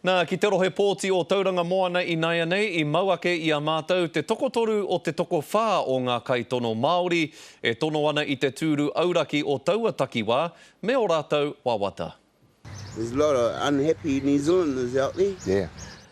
Nā, ki te rohe pōti o Tauranga Moana inaianei i mau ake i a mātou te tokotoru o te tokowhā o ngā kaitono Māori e tono ana i te tūru auraki o taua takiwā me ō rātou wawata. There's a lot of unhappy New Zealanders out there. Yeah.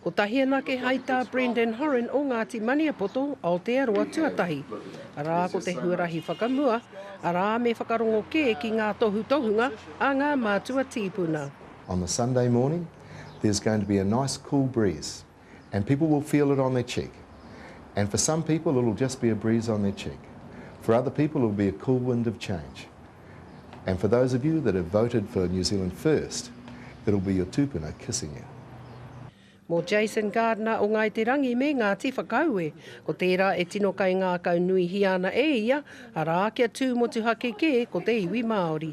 Kotahi anake hai tā Brendan Horan o Ngāti Maniapoto, Aotearoa tuatahi. Arā ko te huarahi whakamua, arā me whakarongo kē ki ngā tohutohunga a ngā mātua tīpuna. On the Sunday morning there's going to be a nice cool breeze and people will feel it on their cheek and for some people it will just be a breeze on their cheek, for other people it will be a cool wind of change and for those of you that have voted for New Zealand First it will be your tupuna kissing you. Mō Jason Gardner o Ngāi Te Rangi me Ngāti Whakaue, ko tērā e tino kaingākau nuihia ana e ia, arā, kia tū motuhake kē ko te iwi Māori.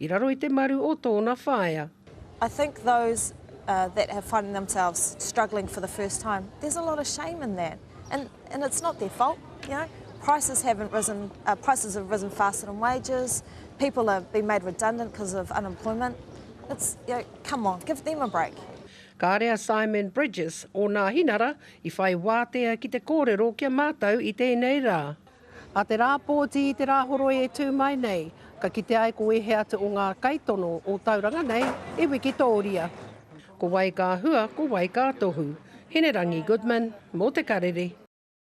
I raro i te maru o tōna whaea. I think those that have finding themselves struggling for the first time, there's a lot of shame in that and and it's not their fault, you know. Prices haven't risen, uh, prices have risen faster than wages, people have been made redundant because of unemployment. It's, you know, come on, give them a break. Kāre a Simon Bridges, ōna hinara, i whai wātea ki te kōrero kia mātau i tēnei rā. Nā te rā pōti i te rā horoi e tū mai nei, ka kitea ai ko ēhea atu o ngā kaitono o Tauranga nei i wikitōria. Ko wai ka hua, ko wai ka tohu. Hinerangi Goodman, mō Te Karere.